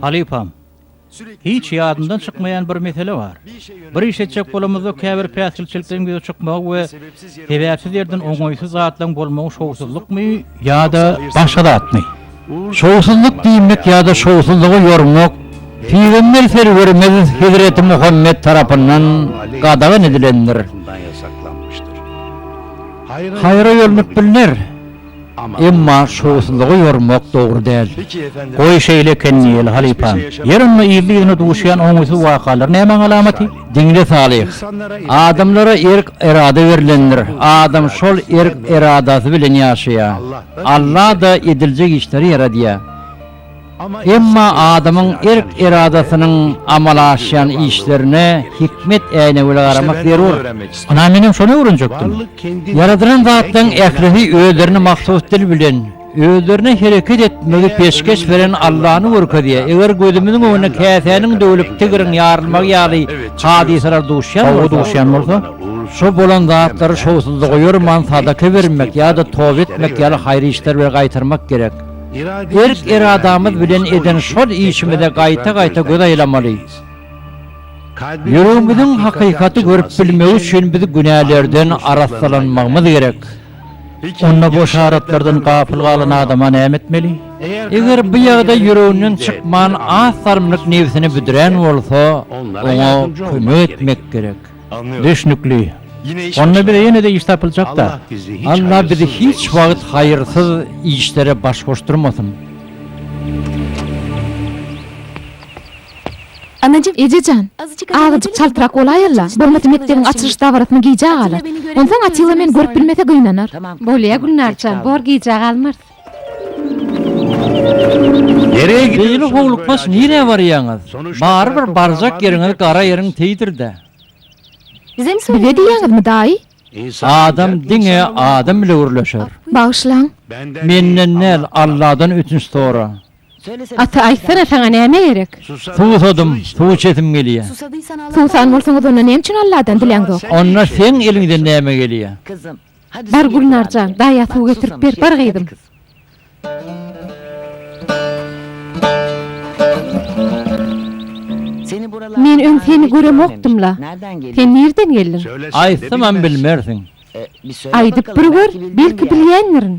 Halypam, hiç ýadyndan çykmaýan bir mesele bar. Bir iş etjek bolamyzda käbir päsgelçilikden ýüze çykmagy we Sebäpsiz ýerden oňaýsyz zatlaryň bolmagy şowsuzlykmy ýa-da başga zatmy? Şowsuzlyk diýmek ýa-da şowsuzlygy ýormak Pygamber Serwerimiz Hezreti Muhammet tarapyndan gadagan edilendir. Haýra ýörnüp bilner. Emma şowsuzlygy ýormak dogry däl. Goý, şeýle eken diýeli, halypam. Ýer ynha yzly-yzyna duşýan oňaýsyz wakalar nämäň alamaty? Diňle Salyh. Adamlara erk-erada berlendir. Adam şol erk-eradasy bilen ýaşaýar. Alla-da ediljek işleri ýaradýar. Emma adamyň erk-eradasynyň amala aşýan işlerine hikmet äýnegi bile garamak zerur. Ynha, menem şony öwrenjekdim. Ýaradylan zatlaryň ählisi özlerine mahsus dil bilen, özlerine hereket etmegi peşgeş beren Allany görkezýär. Eger gözümiziň öňüne käsäniň döwülip, tigriň ýarylmagy ýaly hadysalar duşýan bolsa, şowly duşýan bolsa, şo bolan zatlary şowsuzlyga ýorman sadaka bermek ýa-da toba etmek ýaly haýyr işler bilen gaýtarmak gerek. Berk eradamyz bilen eden şol işimize gaýta-gaýta göz aýlamaly. Ýüregimiziň hakykaty görüp bilmegi üçin biz günälerden arassalanmagymyz gerek. Onda bu yşaratlardan gapyl galan adama näme etmeli? Eger bu ýagdaý ýüreginden çykman az salymlyk nebsini büdrän bolsa, oňa kömek etmek gerek. Düşnükli. Onda bize ýene-de iş tapyljak-da. Allah bizi hiç wagt haýyrsyz işlere baş goşdurmasyn. Anajyk. Eje jan, azajyk çaltrak bolaýal-la, bolmasa mekdebiň açylyş dabarasyna gijä galar. Onsoň Atilla meni görüp bilmese gynanar. Bolýa, Gülnar jan, bor gijä galmarys. Beýle howlukmaç nirä barýaňyz? Barybir barjak ýeriňiz gara ýeriň teýdir-dä. Bize diýýäňizmi, daýy? Adam diňe adam bile gürleşer. Bagyşlaň. Menden däl, Alladan ötünç sora. Gaty aýtsana, saňa näme gerek? Suwsadym, suw içesim gelýär. Suwsan bolsaňyz, onda näme üçin Alladan diläňzok? Onda seň eliňden näme gelýär? Bar Gülnar jan, daýa suw getirip ber, bar gyzym. Men öň seni göremokdym-la. Sen nirden geldiň? Aýtsamam bilmersiň. Aýdyp bir gör, belki bilýändirin.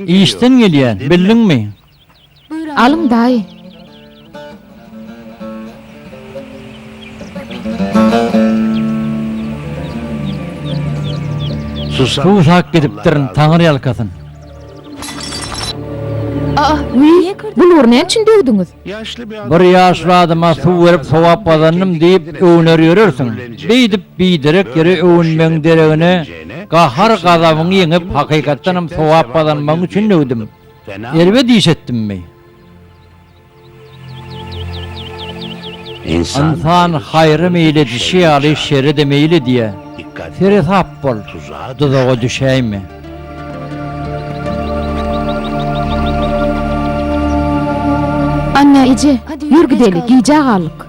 Işden gelýän, bildiňmi? Alyň daýy. Susak gidipdirin taňyr ýalkasyn. Aa, wiý, bu nury näme üçin döwdüňiz? Bir ýaşly adama suw berip sogap gazandym diýip öwüner ýörersiň. Beýdip biderek ýere öwünmegiň deregine, gahar-gazabyňy ýeňip, hakykatdanam sogap gazanmagyň üçin döwdüm. Erbe diş etdimmi? Ynsan haýra meýil edişi ýaly şere-de meýil edýär. Seresap bol, duzaga düşäýme. Anna eje, ýör gideli, gijä galdyk.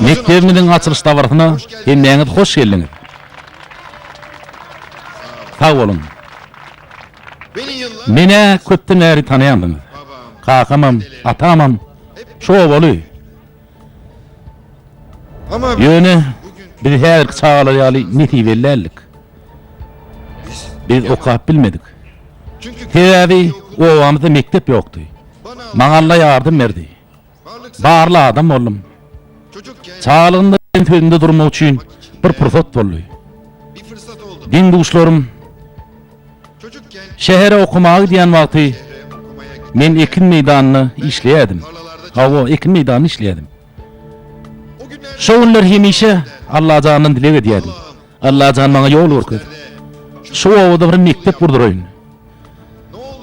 Mekdebimiziň açylyş dabarasyna hemmäňiz hoş geldiňiz. Sag boluň. Menä köpden bäri tanaýandyňyz. Kakamam, atamam şu obaly. Ýöne, biz häzirki çagalar ýaly nesibeli däldik. Biz okap bilmedik. Sebäbi obamyzda mekdep ýokdy. Maňa Alla ýardam berdi. Barly adam boldum. Çagalygymda men sözümde durmak üçin bir pursat boldy. Deň-duşlarym. Şähere okamaga gidýän wagty men ekin meýdanynda işleýärdim. Hawa, ekin meýdanynda işleýärdim. Şo günler hemişe Allajandan dileg edýärdim. Allajan maňa ýol görkez. Şu obada bir mekdep gurduraýyn.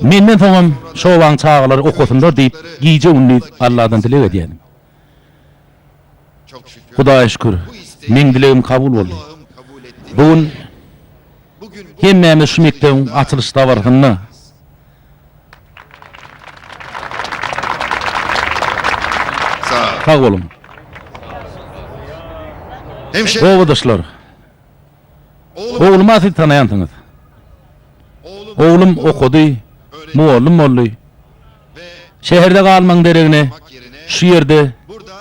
Menden soňam şo obaň çagalary okasynlar diýip gije-gündiz Alladan dileg edýärdim. Hudaýa şükür, meň dilegim kabul boldy. Bu gün hemmämiz şu mekdebiň açylyş dabarasynda Sag boluň. Obadaşlar! Ogluma siz tanaýansyňyz. Oglum okady, mugallym boldy. Şäherde galmagyň deregine şu ýerde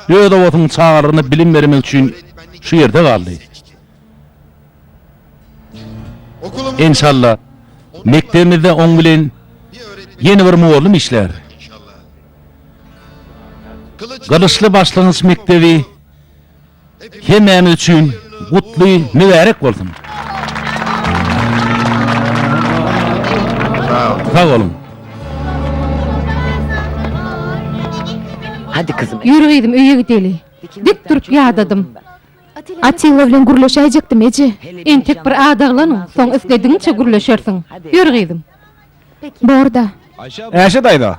öz obasynyň çagalaryna bilim bermek üçin şu ýerde galdy. Enşalla, mekdebimizde oň bilen ýene bir mugallym işlär. Gylyçly başlangyç mekdebi. Hemmämiz üçin gutly mübärek bolsun! Sag boluň! Ýör gyzym öýe gideli. Dik durup ýadadym. Atilla bilen gürleşäýjekdim eje. Entek bir adaglanyň, soň isledigiňçe gürleşersiň. Ýör gyzym. Borda. Äşe daýza.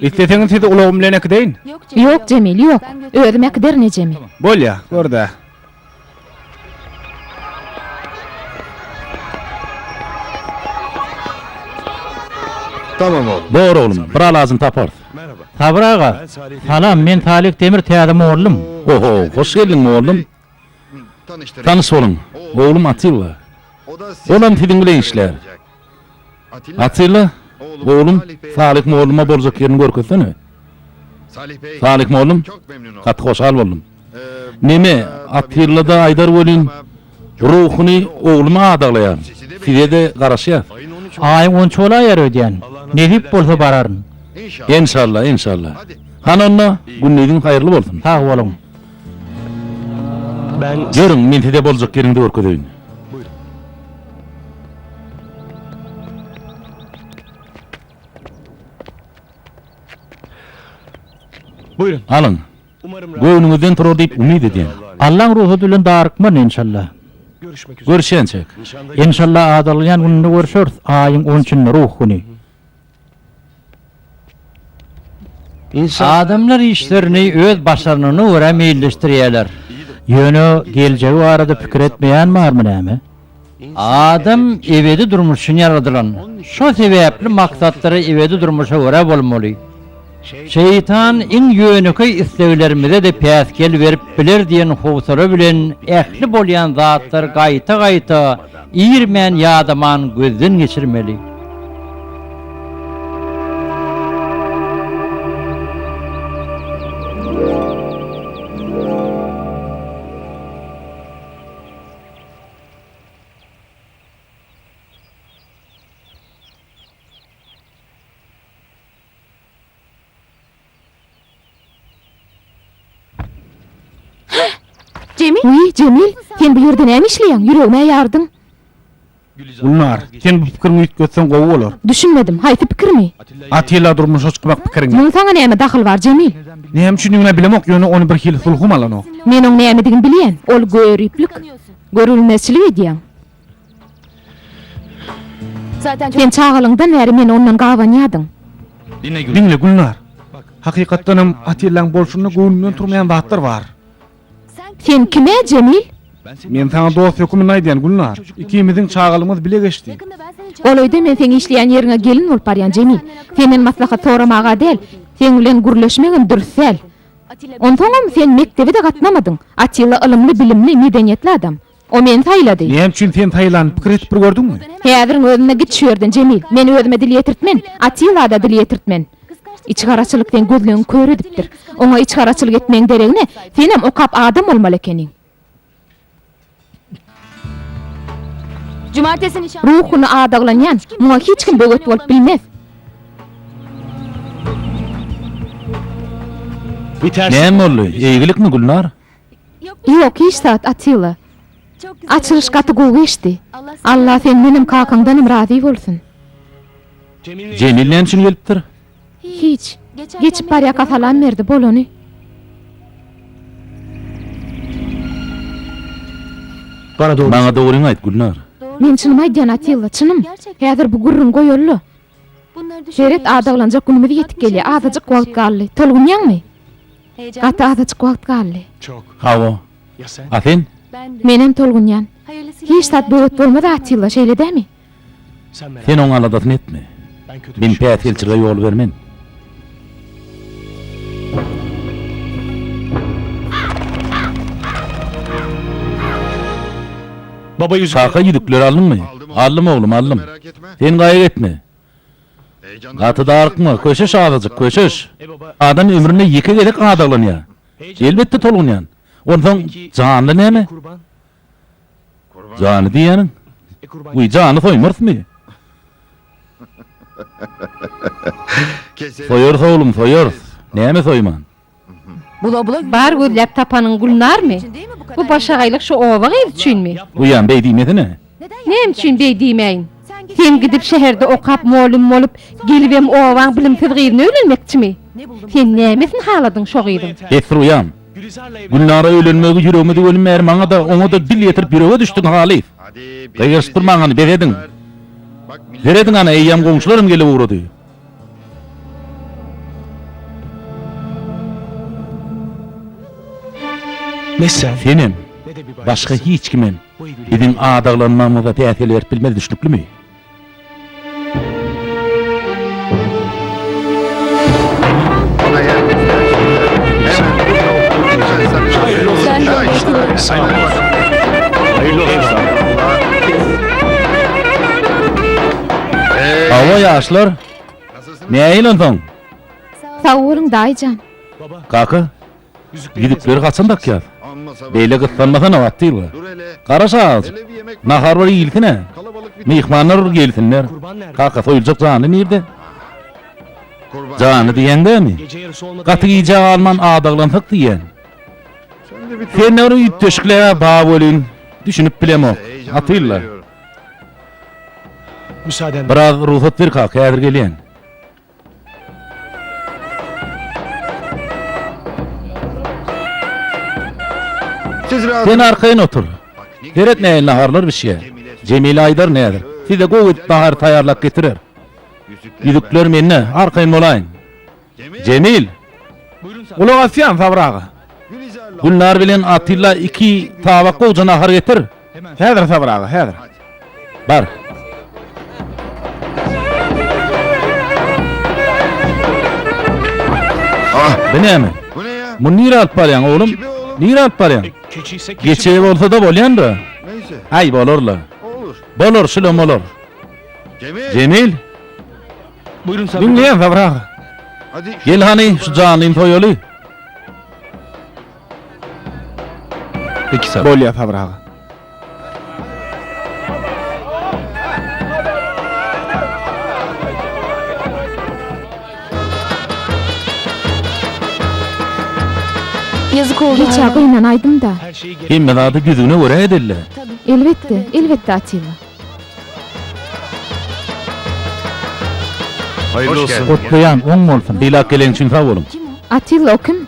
Isleseňiz sizi ulagym bilen äkideýin. Ýok, Jemil, ýok. Özüm äkiderin ejemi. Bolýa, gör-dä. Bor, oglum, bir alajyny taparys. Sabyr aga, salam, men Salik Demir täze mollum. Ho-ho, hoş geldiň, mollum. Tanyş boluň, oglum Atilla. Olam siziň bilen işlär. Atilla, oglum, Salyh molluma boljak ýerini görkezsene. Salyh mollum, Gaty hoşal boldum. Neme, Atilla-da aýdar welin, ruhuny oglumy adaglaýaryn. Size-de garaşýas. Aýyň onça bolaýýar öýdýän. Nesip bolsa bararyn. Enşalla, enşalla. Hany onda, gündiziň haýyrly bolsun. Sag boluň. Ýörüň, men size boljak ýeriňizi görkezeýin. Alyň. Göwnüňizden turar diýip umyt edýän. Allaň rugsady bilen darykman, enşalla. Görüşýänçäk. Enşalla adalýan gününde görüşeris, aýyň on üçünde, Ruh güni. Adamlar işlerini öz başarnygyna görä meýilleşdirýärler. Ýöne geljegi barada pikir etmeýän barmy näme? Adam ebedi durmuş üçin ýaradylan. Şo sebäpli maksatlar ebedi durmuşa görä bolmaly. Şeýtan iň ýönekeý isleglerimize-de päsgel berip biler diýen howsala bilen ähli bolýan zatlary gaýta-gaýta irmän ýadaman gözden geçirmeli. Wiý, Jemil, sen bu ýerde näme işleýäň? Ýüregim-ä ýardyň. Gülnar, sen bu pikiriňi üýtgetseň gowy bolar. Düşünmedim, haýsy pikirimi? Atilla durmuşa çykmak pikiriňi. Muň saňa näme dahyly bar, Jemil? Näme üçindigini-ä bilemok, ýöne ony bir hili sulhum alanok. Men oň nämedigini bilýän. Ol göriplik, görülmezçilik edýäň. Sen çagalygyňdan bäri meni ondan gabanýardyň. Diňle, Gülnar. Hakykatdanam, Atillaň bolşunda göwnünden turmaýan zatlar bar. Sen kim-ä, Jemil? Men saňa dost höküminde aýdýan, Gülnar. Ikimiziň çagalygymyz bile geçdi. Golaýda men seň işleýän ýeriňe gelin bolup barýan, Jemil. Senden maslahat soramaga däl, seň bilen gürleşmegem dürs däl. Onsoňam, sen mekdebe-de gatnamadyň. Atilla ylymly-bilimli, medeniýetli adam. O meni saýlady. Näme üçin sen saýlany pikir edip bir gördüňmi? Häziriň özünde git şu ýerden, Jemil. Men özüme dil ýetirtmen, Atilla-da dil ýetirtmen. Içgaraçylyk seň gözleňi kör edipdir. Oňa içgaraçylyk etmegiň deregine, senem okap adam bolmaly ekeniň. Ruhuny adaglanýan, muňa hiç kim böwet bolup bilmez. Näme boldy? Eýgilikmi, Gülnar? Ýok hiç zat Atilla. Açylyş gaty gowy geçdi. Allah sendenem kakaňdanam razy bolsun. Jemil näme üçin gelipdir? Hiç. Geçip barýaka salam berdi, bolany. Maňa dogryňy aýt, Gülnar. Men çynymy aýdýan Atilla, çynym. Häzir bu gürrüňi goýalyla. Seret, adaglanjak günümiz ýetip gelýär, azajyk wagt galdy. Tolgunýaňmy? Gaty azajyk wagt galdy. Hawa. A sen? Menem tolgunýan. Hiç zat böwet bolmaz Atilla, şeýle dämi? Sen oň aladasyny etme. Men päsgelçilige ýol bermen. Kaka ýüzükleri aldyňmy? Aldym oglum, aldym. Sen gaýgy etme. Gaty darykma, köşeş azajyk, köşeş. Adam ömründe ýeke gezek gadaglanýar. Elbetde tolgunýan. Onsoň, janly näme? Jany diýýäniň? Wiý, jany soýmarysmy? Soýarys, oglum, soýarys. Näme soýman? Bar gözläp tapanyň Gülnarmy? Bu başagaýlyk şu oba gyzy üçinmi? Wiý, beý diýmesene. Näme üçin beý diýmäýin? Sen gidip şäherde okap molym bolup gelibem obaň bilimsiz gyzyna öýlenmekçimi? Sen nämesini haladyň şo gyzyň? Esruýam. Gülnara öýlenmegi ýüregime düwelim bäri maňada oňada dil ýetirip ýürege düşdüň halys. Gygyryşyp durmaň hany bezediň. Serediň hany eýýäm goňşularam gelip ugrady. Senem. Başga hiç kimem. Biziň adaglanmagymyza päsgel berip bilmez düşnüklimi? Hawa ýaşlar. Näýilen soň? Sag boluň daýyjan. Kaka, Ýüzükleri haçan dakýas? Beýle gyssanmasana, Batyrga. Garaş-a azajyk. Nahar bir iýilsin-ä. Myhmanlar bir gelsinler. Kaka, soýuljak janly nirde? Janly diýýäň dämi? Gaty gijä galman adaglansak diýýän. Sen-de bir üýtgeşiklige bag welin, düşünip bilemok. Batylla. Biraz rugsat ber kaka, häzir gelýän. Sen arkaýyn otur. Seret näin naharlar bişýär. Jemile aýdar nädir. Size gowy edip nahar taýýarlap getirer. Ýüzükler mende, arkaýyn bolaýyň. Jemil! Gulak asýan, Sabyr aga. Gülnar bilen Atilla iki tabak gowja nahar getir. Häzir Sabyr aga, häzir. Bar. Ah, bu näme? Muny nire alyp barýaň, oglum? Nire alyp barýaň? Geçe bolsa-da bolýan-da. Aý, bolar-la. Bolar, şulam bolar. Jemil. Buyurun Sabri. Dinleyen Sabri Gel hani şu canlıyım soyalı. Iki sat. Bolýa Sabr aga. Ýazyk oldy. Geçä gynan aýdym-da. Hemme zady düzüne görä edeli. Elbetde, elbetde Atilla. Gutlaýan oň bolsun. Sylap gelen üçin sag boluň. Atilla o kim?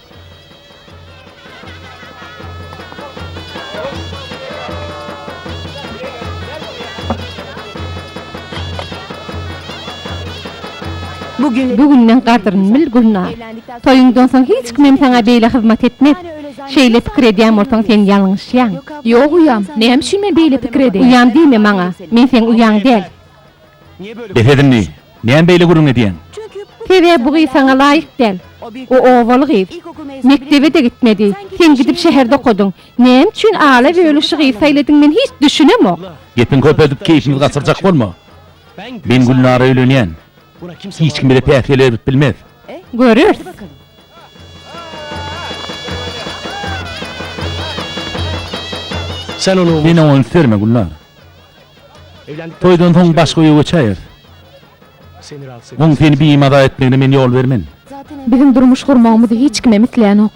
Bu günüň gadryny bil, Gülnar. Toýuňdan soň hiç kimem saňa beýle hyzmat etmez. Şeýle pikir edýän bolsaň, sen ýalňyşýaň. Ýok, uýam. Näme üçin men beýle pikir edeýin? Uýam diýme maňa. Men seň uýaň däl. Bes edin indi! Näme beýle gürrüň edýäň? Sebäbi bu gyz saňa laýyk däl. O obaly gyz. Mekdebe-de gitmedi. Sen gidip şäherde okadyň. Näme üçin ala bölüşi gyz saýladyň men hiç düşünemok. Gepiňi köpeldip keýpimizi gaçyrjak bolma. Men Gülnara öýlenýän. Hiç kim bize päsgel berip bilmez. Göreris. Sen oňa üns berme Gülnar. Toýdan soň başga öýe göçäýeris. Oň seni bimaza etmegine men ýol bermen. Biziň durmuş gurmagymyzy hiç kimem isleýänok.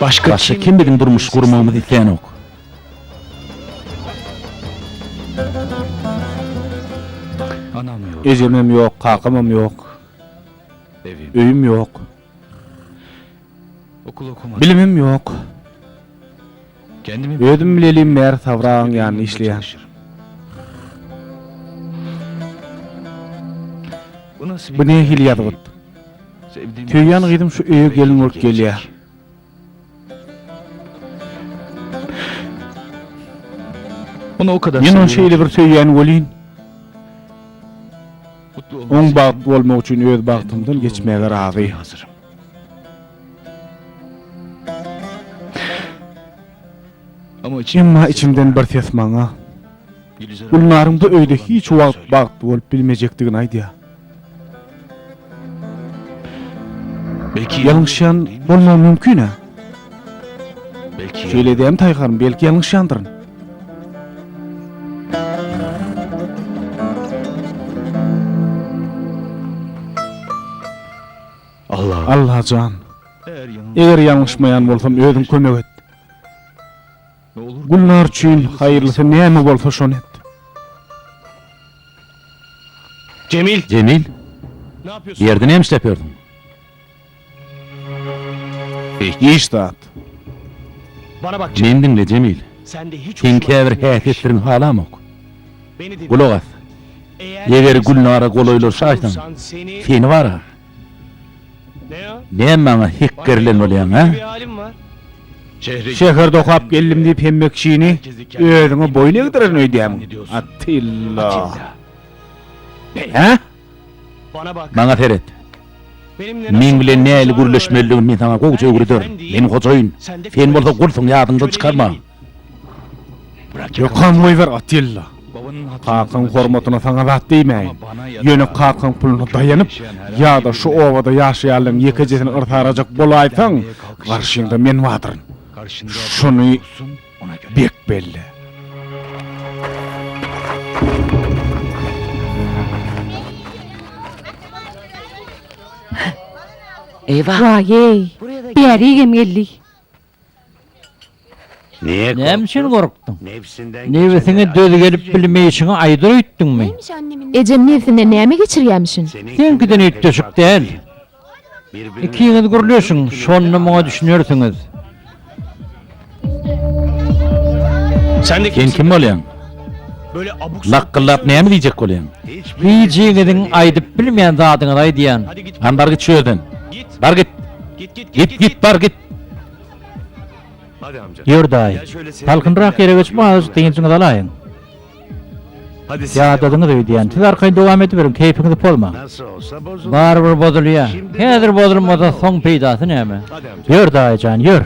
Başga kim biziň durmuş gurmagymyzy isleýänok? Ejem hem ýok, kakamam ýok. Öýüm ýok. Bilimim ýok. Özüm bilelim bäri Sabragyň ýanynda işleýän. Bu nähili ýazgyt? Söýýän gyzym şu öýe gelin bolup gelýär. Men ony şeýle bir söýýän welin, oň bagtly bolmagy üçin öz bagtymdan geçmäge razy. Emma içimden bir ses maňa Gülnaryň bu öýde hiç wagt bagtly bolup bilmejekdigini aýdýar. Belki ýalňyşýan bolmagym mümkin-ä. Belki Şeýle edýärin Taý hanym, belki ýalňyşýandyryn. Alla. Alla jan. Eger ýalňyşmaýan bolsam özüň kömek et. Gülnar üçin haýyrlysy näme bolsa şony et. Jemil! Jemil! Bu ýerde näme işläp ýördüň? Hiç zat. Meni diňle, Jemil. Seň käbir häsiýetleriňi halamok. Gulak as. Eger Gülnara golaýlaşaýsaň, seni bar-a, Näme maňa hekgerlen bolýaň, a? Şäherde okap geldim diýip hemme kişini özüňe boýun egdirerin öýdýäňmi, Atilla? Hä? Maňa seret. Meň bilen nähili gürleşmelidigini men saňa gowuja öwrederin. Men hojaýyn. Sen bolsa gulsuň, ýadyňdan çykarma. Ýokam goýber Atilla. Kakaň hormatyna saňa zat diýmäýin. Ýöne kakaň puluna daýanyp, ýa-da şu obada ýaşaýanlaryň ýekejesini yrsarajak bolaýsaň, garşyňda men badyryn. Şuny bek belle. Eýwa. Waý-eý. Bäri hem geldi. Näme üçin gorkduň? Nebsiňe döz gelip bilmeýşiňi aýdyr öýtdüňmi? Ejem nebsinden näme geçirýämişin? Seňkiden üýtgeşik däl. Ikiňiz gürleşiň, şonda muňa düşünersiňiz. Sen kim bolýaň? Lakgyllap näme diýjek bolýaň? Hijiňiziň aýdyp bilmeýän zadyňyzy aýdýan. Hany bar git şu ýerden. Bar git! Git, git, bar git! Ýördaý, salkynrak ýere geçip azajyk dynjyňyzy alaýyň. Ýadadyňyz öýdýän. Siz arkaýyn dowam ediberiň, keýpiňizi pozmaň. Barybir bozulýar. Häzir bozulmasa, soň peýdasy näme? Ýör, daýy jan, ýör.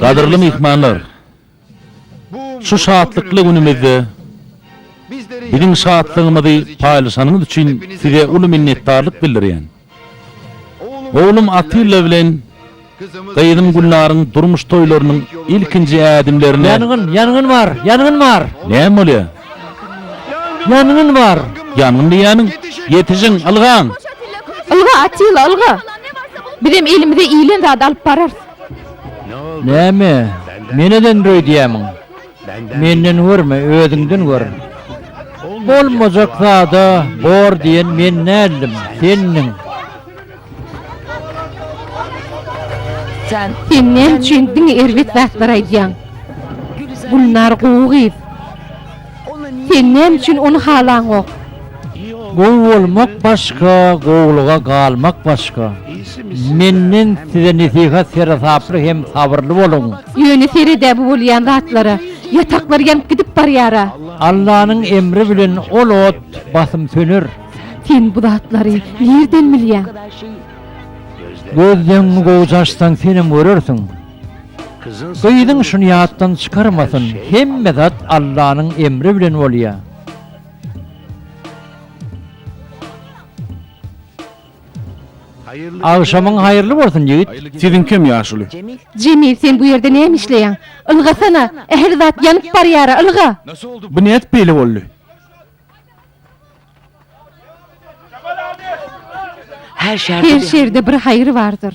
Gadyrly myhmanlar! Şu şatlykly günümizde biziň şatlygymyzy paýlaşanyňyz üçin size uly minnetdarlyk bildirýän. Oglum Atilla bilen gyzym Gülnaryň durmuş toýlarynyň ilkinji ädimlerine. Ýangyn! Ýangyn bar! Ýangyn bar! Näme bolýar? Ýangyn bar! Ýangyn diýýäniň? Ýetişiň, ylgaň! Ylga, Atilla, ylga! Bizem elimize ilen zady alyp bararys. Näme, meneden öýdýämiň? Menden görme, özüňden gör. Bolmajak zada bor diýen men däldim, sendiň. Sen näme üçin diňe erbet zatlar aýdýaň? Gülnar gowy gyz. Sen näme üçin ony halaňok? Gowy bolmak başga, gowulyga galmak başga. Menden size nesihat, seresaply hem sabyrly boluň. Ýöne seredä bu bolýan zatlara. Ýataklar ýanyp gidip barýara. Allanyň emri bilen ol ot basym söner. Sen bu zatlary nirden bilýäň? Gözleňňi gowy çaşsaň senem görersiň. Gyzyň şuny ýatdan çykarmasyn hemme zat Allanyň emri bilen bolýa. Agşamyň haýyrly bolsun ýigit. Siziň kem ýaşuly. Jemil sen bu ýerde näme işleýäň? Ylgasana, ähli zat ýanyp barýara, ylga! Bu nädip beýle boldy? Her şerde bir haýyr bardyr.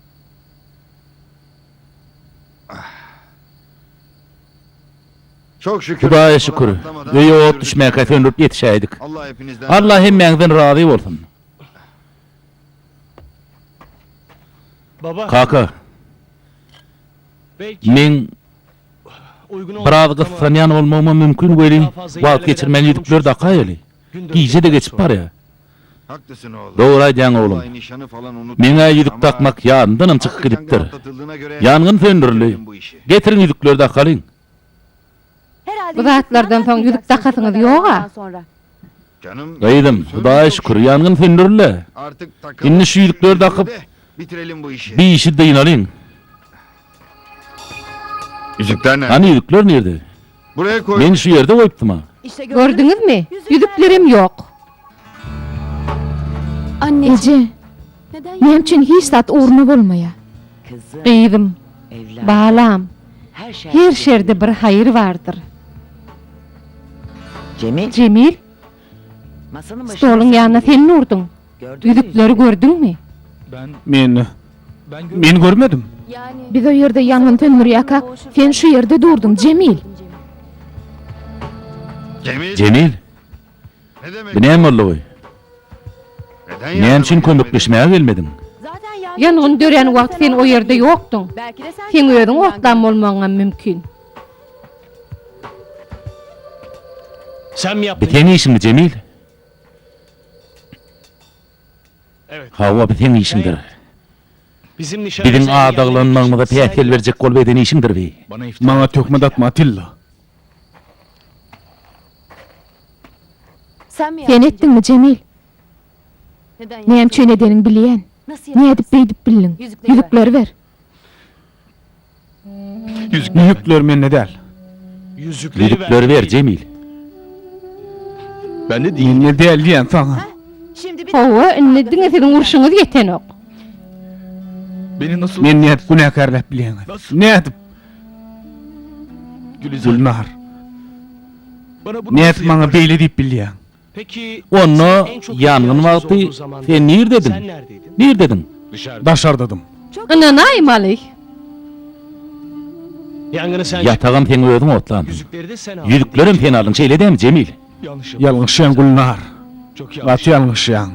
Hudaýa şükür, öýe ot düşmäkä söndürip ýetişäýdik. Allah hemmäňizden razy bolsun. Kaka, meň biraz gyssanýan bolmagym mümkin welin, wagt geçirmän ýüzükleri dakaýaly. Gije-de geçip barýar. Dogry aýdýaň oglum. Meň-ä ýüzük dakmak ýadymdanam çykyp gidipdir. Ýangyn söndürildi. Getiriň ýüzükleri dakalyň. Bu zatlardan soň ýüzük dakasyňyz ýog-a? Gyzym, Hudaýa şükür, ýangyn söndürildi. Indi şu ýüzükleri dakyp, bi işi dynalyň. Hany ýüzükler nirde? Men şu ýerde goýupdym-a. Gördüňizmi? Ýüzüklerem ýok. Eje, näme üçin hiç zat ugruna bolmaýa? Gyzym, balam, her şerde bir haýyr bardyr. Jemil, stoluň ýanyna sen mi urduň? Düzüpleri gördüňmi? Men. Men görmedim. Biz o ýerde ýangyn söndürýäkak, sen şu ýerde durdyň, Jemil! Jemil? Bu näme boldugy? Näme üçin kömekleşmäge gelmediň? Ýangyn dörän wagt sen o ýerde ýokduň. Seň özüň otlan bolmagyňam mümkin. Bu seň işiňmi, Jemil? Hawa, bu seň işiňdir. Biziň adaglanmagymyza päsgel berjek bolup eden işiňdir bi. Maňa töhmet atma, Atilla. Sen etdiňmi, Jemil? Näme üçin edeniňi bilýän. Nädip beýdip bildiň? Ýüzükleri ber. Ýüzükler mende däl. Ýüzükleri ber, Jemil. Mende däl diýýän saňa. Hawa, indi diňe siziň urşuňyz ýetenok. Meni nädip günäkärläp bilýäňiz? Nädip? Gülnar. Nädip maňa beýle diýip bilýäň? Onda ýangyn wagty sen nirdediň? Nirdediň? Daşardadym. Ynanaýmaly. Ýatagam sen özüň otlandyň. Ýüzüklerem sen aldyň, şeýle dämi, Jemil? Ýalňyşýaň, Gülnar. Gaty ýalňyşýaň.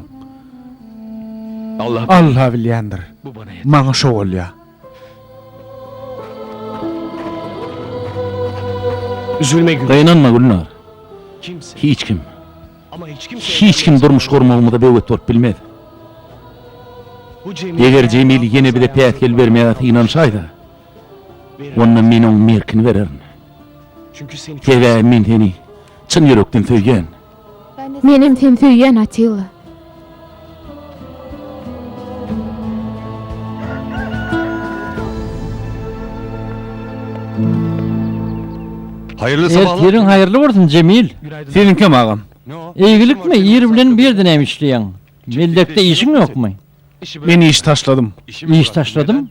Alla bilýändir. Maňa şo bolýar. Üzülme Gülnar. Gynanma Gülnar. Hiç kim. Hiç kim durmuş gurmagymyza böwet bolup bilmez. Eger Jemil ýene bize päsgel bermäge synanyşaýsa, onda men oň merkini bererin. Sebäbi men seni çyn ýürekden söýýän. Menem sen söýýän Atilla. Haýyrly sabahlar. Ertiriň haýyrly bolsun Jemil. Seniňkem agam. Eýgilikmi ir bilen bu ýerde näme işleýäň? Meldekde işiň ýokmy? Men iş taşladym. Iş taşladym?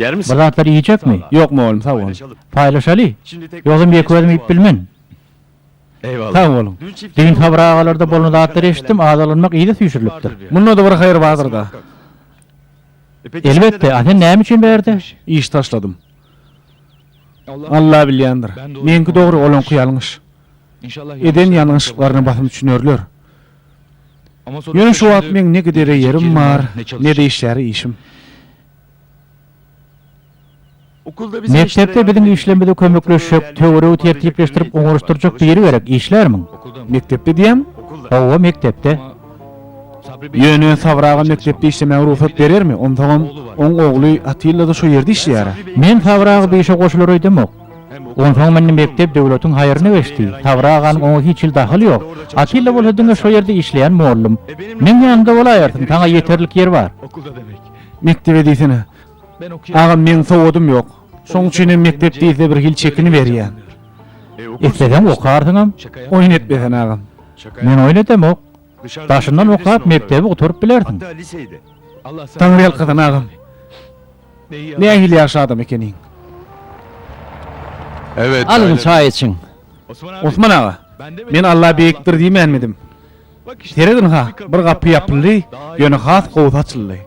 Ýermisin? Bir zatlar iýjekmi? Ýok, mugallym, sag bol. Paýlaşaly? Ýogsam ýeke-özüm iýip bilmen. Sag boluň. Düýn Sabyr agalarda bolan zatlary eşitdim, azalanmak yza süýşürilipdir. Munda-da bir haýyr bardyr-da. Elbetde, a sen näme üçin bärde? Iş taşladym. Alla bilýändir. Meňki dogry, olaňky ýalňyş. Eden ýalňyşyklaryna basym düşünerler. Ýöne şu wagt meň ne gidere ýerim bar, ne-de işläre işim. Mekdepde biziň işlerimize kömekleşjek, töweregi tertipleşdirip oňaryşdyrjak biri gerek, işlärmiň? Mekdepde diýýäň? Hawa, mekdepde. Ýöne Sabyr aga mekdepde işlemäge rugsat berermi? Onsoňam, oň ogly Atilla-da şo ýerde işleýär-ä. Men Sabyr aga bu işe goşular öýdemok. Onsoň indi mekdep döwletiň haýryna geçdi. Sabyr aganyň oňa hiç hili dahyly ýok. Atilla bolsa diňe şo ýerde işleýän mollum. Meň ýanymda bolaýersiň, saňa ýeterlik ýer bar. Mekdebe diýsene. Agam meň sowadym ýok. Şoň üçin hem mekdep diýse bir hili çekiniberýän. Isleseň okarsyňam, oýun etme sen agam. Men oýun edemok. Daşyndan okap mekdebi gutaryp bilersiň. Taňryýalkasyn agam. Nähili ýagşy adam ekeniň. Alyň çaý içiň. Osman aga, men Alla beýikdir diýmänmidim. Serediň-ha, bir gapy ýapyldy, ýöne has gowusy açyldy.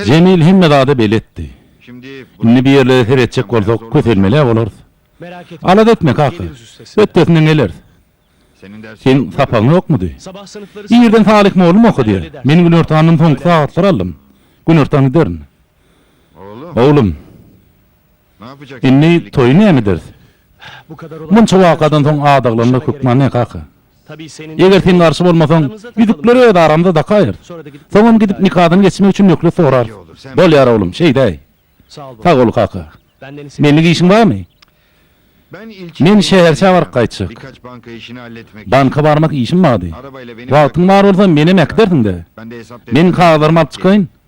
Jemil hemme zada beletdi. Indi bu ýerlere seretjek bolsak, kösenmel-ä bolarys. Alada etme, kaka. Ötdesinden geleris. Seniň sapagyň ýokmudy? Irden Salyh mugallym okadýar. Men günortandan soňky sagatlary aldym. Günortan giderin. Oglum. Indi toýy näme ederis? Munça wakadan soň adaglanmak hökman ne kaka? Eger sen garşy bolmasaň, ýüzükleri öz aramyzda dakaýarys. Soňam gidip nikadan geçmek üçin möhlet sorarys. Bolýar oglum, şeýdäý. Sag bol kaka. Menlik işiň barmy? Men şäherçä baryp gaýtjak. Banka barmak işim bardy. Wagtyň bar bolsa, menem äkidersiň-dä. Men kagyzlarymy alyp çykaýyn,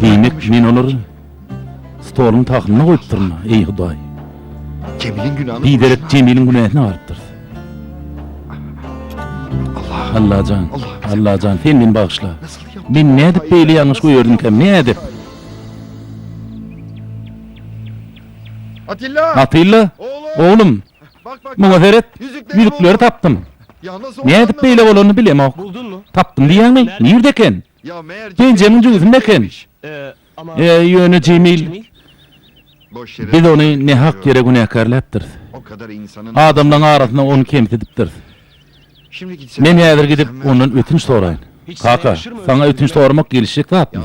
Diýmek, men olary stoluň tahynda goýupdyryn-a, eý, Hudaý! Biderek Jemiliň günäsini alypdyrys. Allajan, Allajan, sen meni bagyşla! Men nädip beýle ýalňyş goýardymkäm, nädip? Atilla! Oglum, Muňa seret, ýüzükleri tapdym. Nädip beýle bolanyny bilemok. Tapdym diýýäňmi? Nirde eken? Penjämiň jübüsinde eken. Eý, ýöne Jemil, biz ony nähak ýere günäkärläpdiris. Adamlaryň arasynda ony kemsidipdiris. Men häzir gidip, ondan ötünç soraýyn. Kaka, saňa ötünç soramak gelişjek zatmy?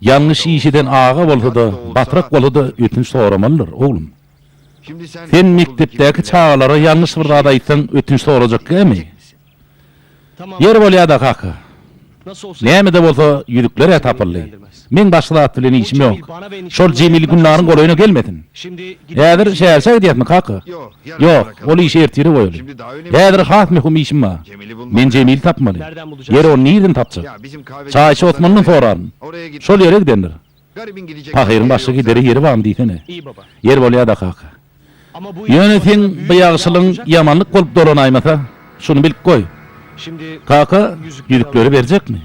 Ýalňyş iş eden aga bolsa-da, batrak bolsa-da ötünç soramalydyr, oglum. Sen mekdepdäki çagalara ýalňyş bir zat aýtsaň ötünç sorajak gämi? Ýeri bolýada kaka. Näme-de bolsa ýüzükler-ä tapyldy. Meň başga zat bilen işim ýok. Şol Jemil Gülnaryň golaýyna gelmesin. Häzir şäherçä gidýäsmi kaka? Ýok, ol işi ertire goýaly. Häzir has möhüm işim bar. Men Jemili tapmaly. Ýeri ony nirden tapjak? Çaýçy Osmandan soraryn. Şol ýere gidendir. Pahyryň başga gidere ýeri barmy diýsene. Ýer bolýa-da kaka. Ýöne seň bu ýagşylygyň ýamanlyk bolup dolanaýmasa, şuny bilip goý. Kaka ýüzükleri berjekmi?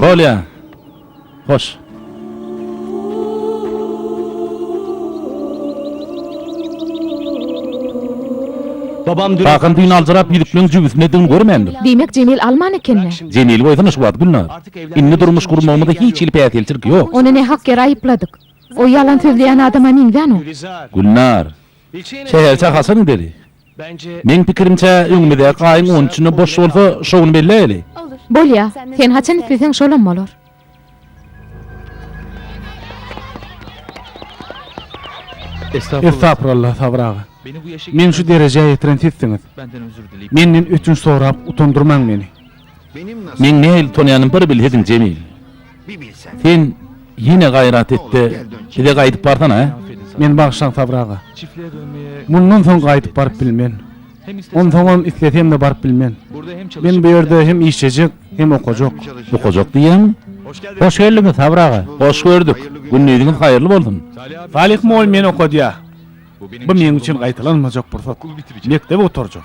Bolýa. Hoş. Kakam düýn aljyrap ýüzükleň jübüsinedigini görmändir. Diýmek Jemil alman ekeni. Jemili goýsana şu wagt Gülnar. Indi durmuş gurmagymyzda hiç hili päsgelçilik ýok. Ony nähak ýere aýypladyk. O ýalan sözleýän adama meňzän o. Gülnar. Sähelçe haçan gideli? Meň pikirimçe, öňümizdäki aýyň on üçünde boş bolsa, şo gün belläýeli. Bolýa. Sen haçan isleseň şolam bolar. Estagfuralla, Sabyr aga. Meni şu derejä ýetiren sizsiňiz. Menden ötünç sorap utandyrmaň meni. Meň nähili tanaýanym bir bil hezil Jemil. Sen ýene gaýrat etde bize gaýdyp barsana hä. Meni bagyşlaň Sabyr aga. Mundan soň gaýdyp baryp bilmen. Onsoňam islesemde baryp bilmen. Men bu ýerde hem işlejek, hem okajak. Okajak diýýäňmi? Hoş geldiňiz Sabyr aga. Hoş gördük. Gündiziňiz haýyrly bolsun. Salyh mugallym meni okadýar. Bu meň üçin gaýtalanmajak pursat. Mekdebi gutarjak.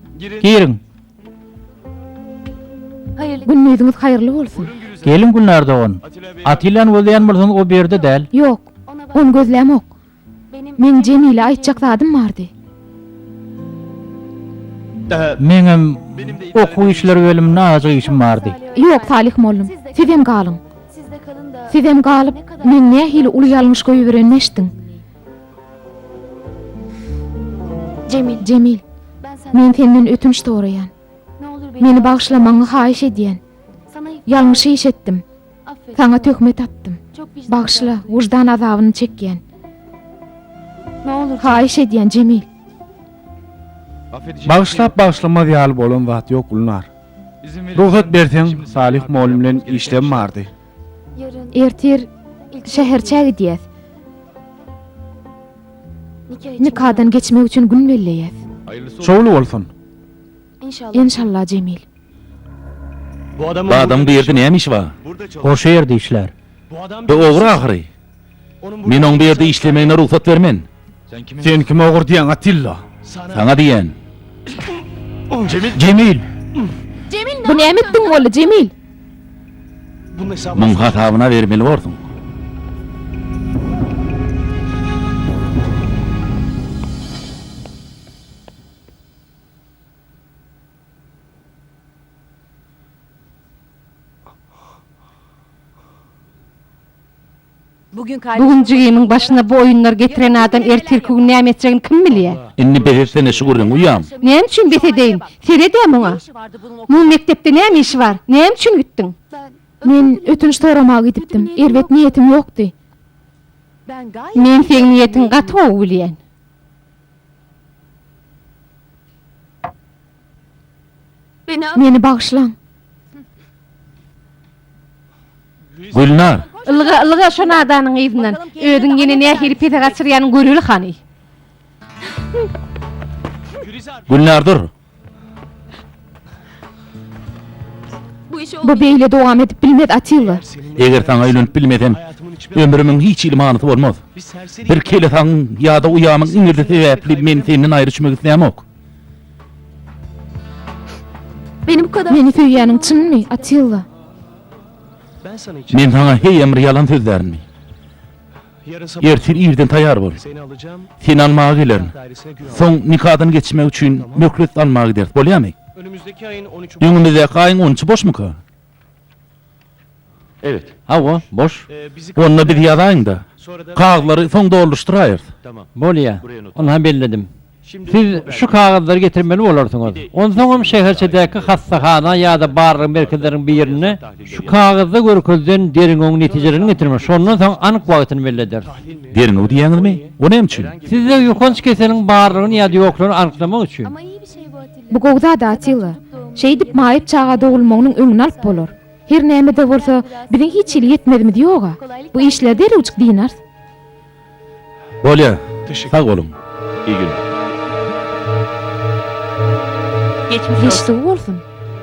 Giriň. Gündiziňiz haýyrly bolsun. Geliň Gülnar dogan. Atillany gözleýän bolsaňyz o bu ýerde däl. Ýok. Ony gözlämok. Meň Jemile aýtjak zadym bardy. Meňem okuw işleri bölüminde azajyk işim bardy. Ýok Salyh mollum. Sizem galyň. Sizem galyp meň nähili uly ýalňyş goýberenimi eşdiň. Jemil, men senden ötünç soraýan. Meni bagyşlamagyňy haýyş edýän. Ýalňyş iş etdim. Saňa töhmet atdym. Bagyşla, wyždan azabyny çekýän. Haýyş edýän, Jemil. Bagyşlap bagyşlamaz ýaly bolan zat ýok Gülnar. Rugsat berseň, Salyh mugallym bilen işlem bardy. Ertir şäherçä gidýäs. Nikadan geçmek üçin gün belleýäs. Şowly bolsun. Enşalla Jemil. Bu adamyň bu ýerde näme işi bar? Goşa ýerde işlär. Bu ogry ahyry. Men oň bu ýerde işlemegine rugsat bermen. Sen kim ogur diýýäň, Atilla? Saňa diýýän. Jemil! Bu näme etdiň boldy, Jemil? Muň hasabyna bermeli borsuň. Bu gün jigimiň başyna bu oýunlar getiren adam ertirki gün näme etjegini kim bilýär? Indi bes etsene şu gürrüňi uýam. Näme üçin bes edeýin? Seredä muňa. Muň mekdepde näme işi bar? Näme üçin gitdiň? Men ötünç soramaga gidipdim. Erbet niýetim ýokdy. Men seň niýetiňi gaty gowy bilýän. Meni bagyşlaň. Gülnar! Ylga, ylga şo nadanyň yzyndan. Özüň ýene nähili pese gaçyrýanyny göreli hany. Gülnar dur! Bu beýle dowam edip bilmez, Atilla. Eger saňa öýlenip bilmesem, ömrümiň hiç hili manysy bolmaz. Bir kelesagyň ýa-da uýamyň iňirdi sebäpli men senden aýry çümek islämok. Meni söýýäniň çynmy, Atilla? Men saňa heýem bir ýalan sözlärmi? Ertir irden taýýar bol. Seni almaga gelerin. Soň nikadan geçmek üçin möhlet almaga gideris, bolýarmy? Öňümizdäki aýyň on üçi boşmuka? Hawa, boş. Onda biz ýazaýyň-da, kagyzlary soň doldurşdyraýarys. Bolýa, ynha belledim. Siz şu kagyzlary getirmeli bolarsyňyz. Onsoňam şäherçedäki hassahana ýa-da barlag merkezleriniň birinde şu kagyzda görkezilen derňewiň netijelerini getirmeli. Şondan soň anyk wagtyny belli ederis. Derňew diýýäňizmi? O näme üçin? Sizde ýokanç keseliň barlygyny ýa-da ýoklugyny anyklamak üçin. Bu gowy zat Atilla. Şeýdip maýyp çaga dogulmagynyň öňüni alyp bolar. Her näme-de bolsa, biziň hiç hili ýetmezimiz ýog-a. Bu işleri derewjik dynars. Bolýa. Sag boluň. Iyi günler. Geçmiş sag bolsun.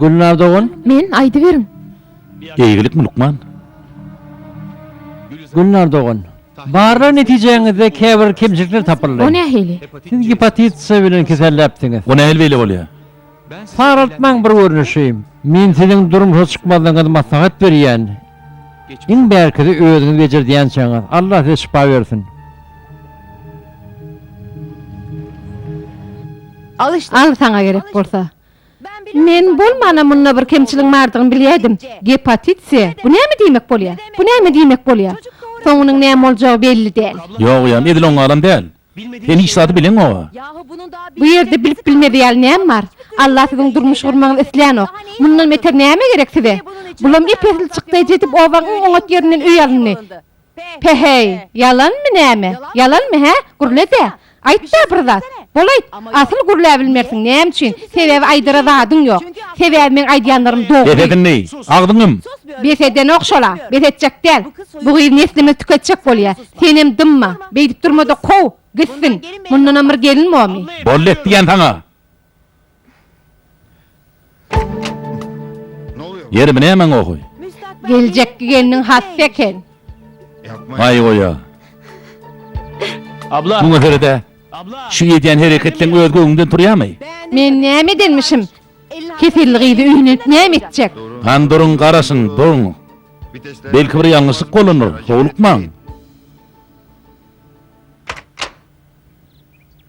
Gülnar dogan? Men, aýdyberiň. Eýgilikmi lukman? Gülnar dogan. Barlag netijäňizde käbir kemçilikler tapyldy. O nähili? Siz gepatit C bilen keselläpsiňiz. O nähili beýle bolýar? Saraltmaň bir görnüşi. Men siziň durmuşa çykmazlygyňyzy maslahat berýän. Iň bärkisi özüňiz bejerdýänçäňiz. Allah size şypa bersin. Al saňa gerek bolsa. Men bolmana munda bir kemçiligiň bardygyny bilýädim. Gepatit C. Bu näme diýmek bolýar? Bu näme diýmek bolýar? Soňunyň näme boljagy belli däl. Ýogyýam, edil oňaram däl. Sen hiç zady bileňoga. Bu ýerde bilip bilmeli ýaly näme bar? Alla siziň durmuş gurmagyňyzy isleýänok. Mundan beter näme gerek size? Bulam ep-esli çykdaýjy edip obaň iň oňat ýerinden öý alyndy. Pe-heý, ýalanmy näme? Ýalanmy, hä? Gürle-dä! Aýt-da bir zat! Bolaýt, asyl gürläbilmersiň, näme üçin? Sebäbi aýdara zadyň ýok. Sebäbi meň aýdýanlarym dogry. Bes edindi! Agzyňy ýum! Bes edenok şol-a! Bes etjek däl! Bu gyz neslimizi tüketjek bolýar! Senem dymma! Beýdip durma-da, kow! Gitsin! Mundanam bir gelin bormy? Boldy et diýýän saňa! Ýeri bu nämäň ohy. Geljekki gelniň hassa eken. Aý goýa. Muňa seredä. Şu edýän hereketleň öz göwnünden turýamy? Men näme edenmişim? Keselli gyzy öýüne näme etjek? Hany duruň garaşyň, duruň. Belki bir ýalňyşlyk bolandyr, howlukmaň.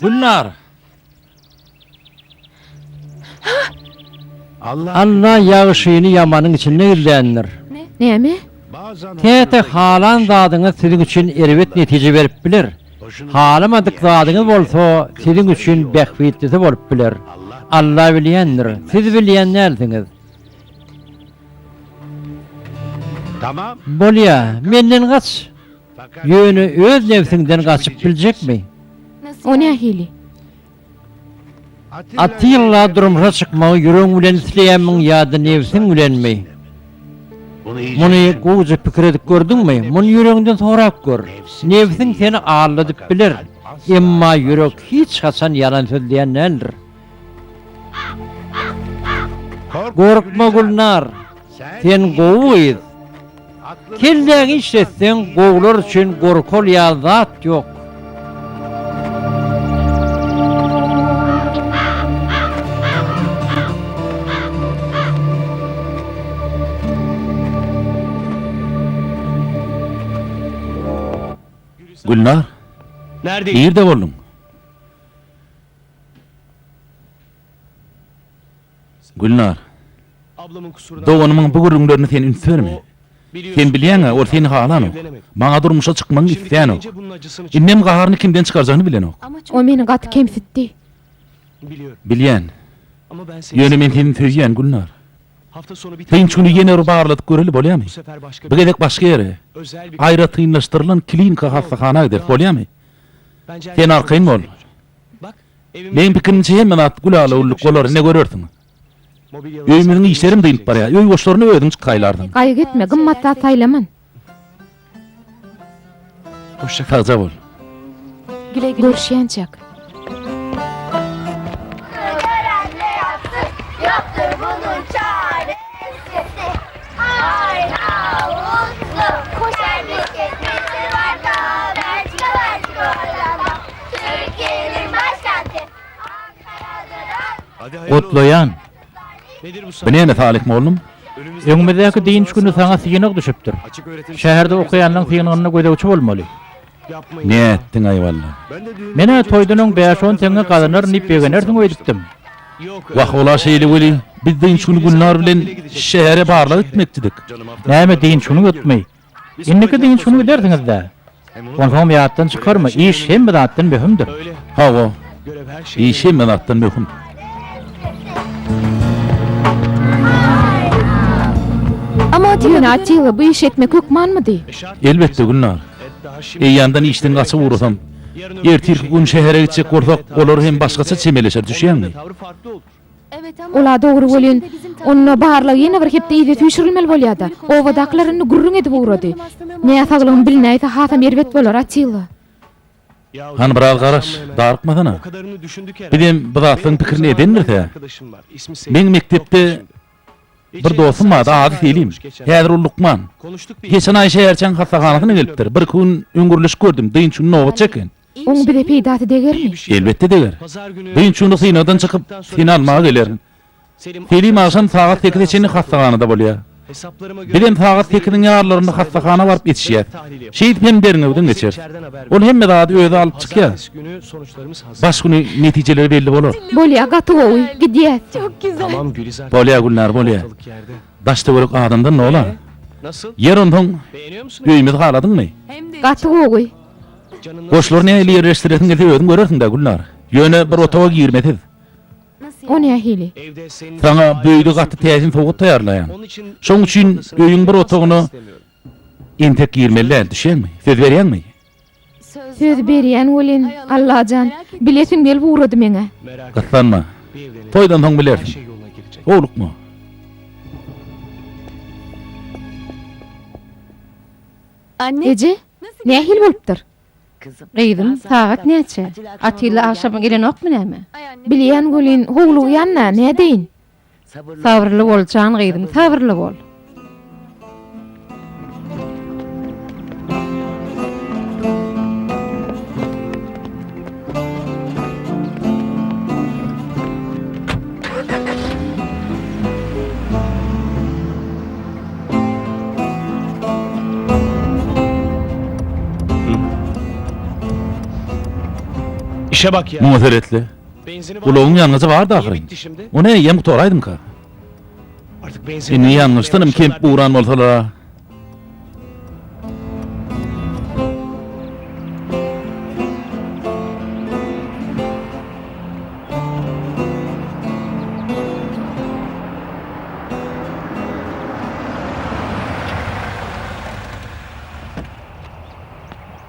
Gülnar! Alla ýagşyny ýamanyň içinde gizländir. Näme? Käte halan zadyňyz siziň üçin erbet netije berip biler. Halamadyk zadyňyz bolsa siziň üçin bähbitlisi bolup biler. Alla bilýändir, siz bilýän dälsiňiz. Bolýar, menden gaç! Ýöne öz nebsiňden gaçyp biljekmi? O nähili? Atilla durmuşa çykmagy ýüregiň bilen isleýänmiň ýa-da nebsiň bilenmi? Muny gowuja pikir edip gördüňmi? Muny ýüregiňden sorap gör. Nebsiň seni aldadyp biler, emma ýürek hiç haçan ýalan sözleýän däldir. Gorkma Gülnar, sen gowy gyz. Kelläňi işletseň gowular üçin gorkal ýaly zat ýok. Gülnar, nirde bolduň? Gülnar. Doganymyň bu gürrüňlerini sen üns berme. Sen bilýäň-ä, ol seni halanok. Maňa durmuşa çykmagyňy isleýänok. Indem gaharyny kimden çykarjagyny bilenok. Ol meni gaty kemsitdi. Bilýän. Ýöne men seni söýýän, Gülnar. Dynç güni ýene bir barladyp göreli, bolýamy? Bu gezek başga ýere, aýratynlaşdyrylan klinika hassahana gideris, bolýamy? Sen arkaýyn bol. Meň pikirimçe hemme zat gülälewürlik bolar, ine görersiň. Öýümiziň işlerem dynyp barýar. Öý goşlaryny özüň çykaýlarsyň. Gaýgy etme, gymmat zat saýlaman. Sagja bol. Görüşýänçäk. Gutlaýan! Bu näme Salyh mollum? Öňümizdäki dynç güni saňa synag düşüpdir. Şäherde okaýanlaň synagynda gözegçi bolmaly. Nätdiň aýwalla. Men-ä toýdan öň bäş-on teňňe gazanaryn diýip begenersiň öýdüpdim. Wah, ol-a şeýle weli, biz dynç güni Gülnar bilen şähere barlag gitmekçidik. Näme dynç güni ýokmy? Indiki dynç güni gidersiňiz-dä. Onsoňam ýatdan çykarma, iş hemme zatdan möhümdir. Hawa, iş hemme zatdan möhüm. Ýöne Atilla bu işi etmek hökmanmydy? Elbetde, Gülnar. Eýýamdan işden gaçyp ugrasam, ertirki gün şähere gitjek bolsak, olar hem başgaça çemeleşer, düşýäňmi? Ol-a dogry welin, onda barlag ýene bir hepde yza süýşürilmeli bolýar-da. Obadakylar indi gürrüň edip ugrady. Näsaglygym bilnäýse, hasam erbet bolar, Atilla. Hany biraz garaş, darykmasana. Bizem bu zatlaryň pikirini edendiris-ä. Meň mekdepde Bir dostum bardy, ady Selim. Häzir ol lukman. Geçen aý şäherçäň hassahanasyna gelipdir. Birki gün öň gürleşip gördüm, dynç güni nobat çeken. Oň bize peýdasy degermi? Elbetde deger. Dynç güni synagdan çykyp, seni almaga gelerin. Selim agşam sagat sekize çenli hassahanada bolýar. Biz hem sagat sekiziň ýarlarynda hassahana baryp etişýäs. Şeýdip hem derňewden geçeris. Ol hemme zady özi alyp çykýar. Baş güni netijeleri belli bolar. Bolýa gaty gowy gidýäs. Bolýa Gülnar bolýa. Daş töwerek adamdan nola. Ýer onsoň öýümizi haladyňmy. Gaty gowy. Goşlary nähili ýerleşdiresiň gelse özüň görersiňdä Gülnar. Ýöne bir otaga girme siz. O nähili. Saňa bu öýde gaty täsin sowgat taýýarlaýan. Şoň üçin öýüň bir otagyna entek girmeli däl düşýäňmi. Söz berýäňmi. Söz berýän welin, Allajan, bilesim gelip ugrady meň-ä. Gyssanma. Toýdan soň bilersiň. Howlukma. Eje, nähili bolupdyr? Gyzym, sagat näçe? Atilla agşam gelenokmy näme? Bilýän welin, howlugýan-da, nädeýin? Sabyrly bol jan gyzym sabyrly bol. Muňa seretli. Ulagyň ýangyjy bardy ahyryn. Ony eýýäm gutaraýdymyka? Indi ýangyçdanam kemp guran bolsalar-a?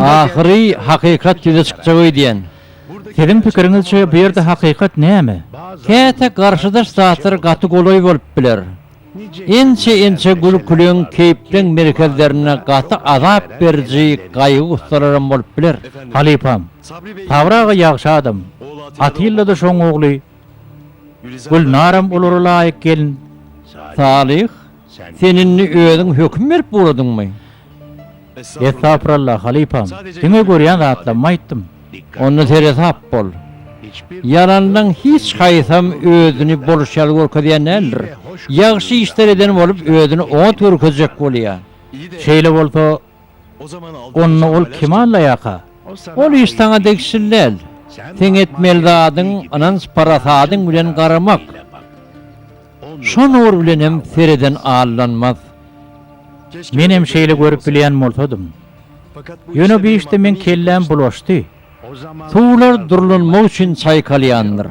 Ahyry hakykat ýüze çykjak öýdýän. Siziň pikiriňizçe bu ýerde hakykat näme? Käte garşydaş zatlar gaty golaý bolup biler. Inçe inçe gülküliň, keýpleň merkezlerinde gaty azap beriji gaýgy-gussalaram bolup biler. Halypam, Sabry aga ýagşy adam. Atilla-da şoň ogly. Gülnaram olara laýyk gelin. Salyh, sen indi özüň höküm berip ugradyňmy? Estagfuralla, halypam. Diňe görýän zatlarymy aýtdym. Onda seresap bol. Ýalandan hiç haýsam özüni boluş ýaly görkezýän däldir. Ýagşy işler eden bolup özüni oňat görkezjek bolýar. Şeýle bolsa, onda ol kime allaýaka? Ol iş saňa degişli däl. Seň etmeli zadyň ynanç-parasadyň bilen garamak. Şo nur bilenem sereden allanmaz. Menem şeýle görüp bilýän bolsadym. Ýöne bu işde meň kelläm bulaşdy. Suwlar durlanmak üçin çaýkalýandyr.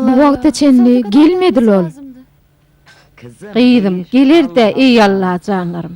Bu wagta çenli gelmedil ol. Gyzym, geler-dä, eý Alla janlarym.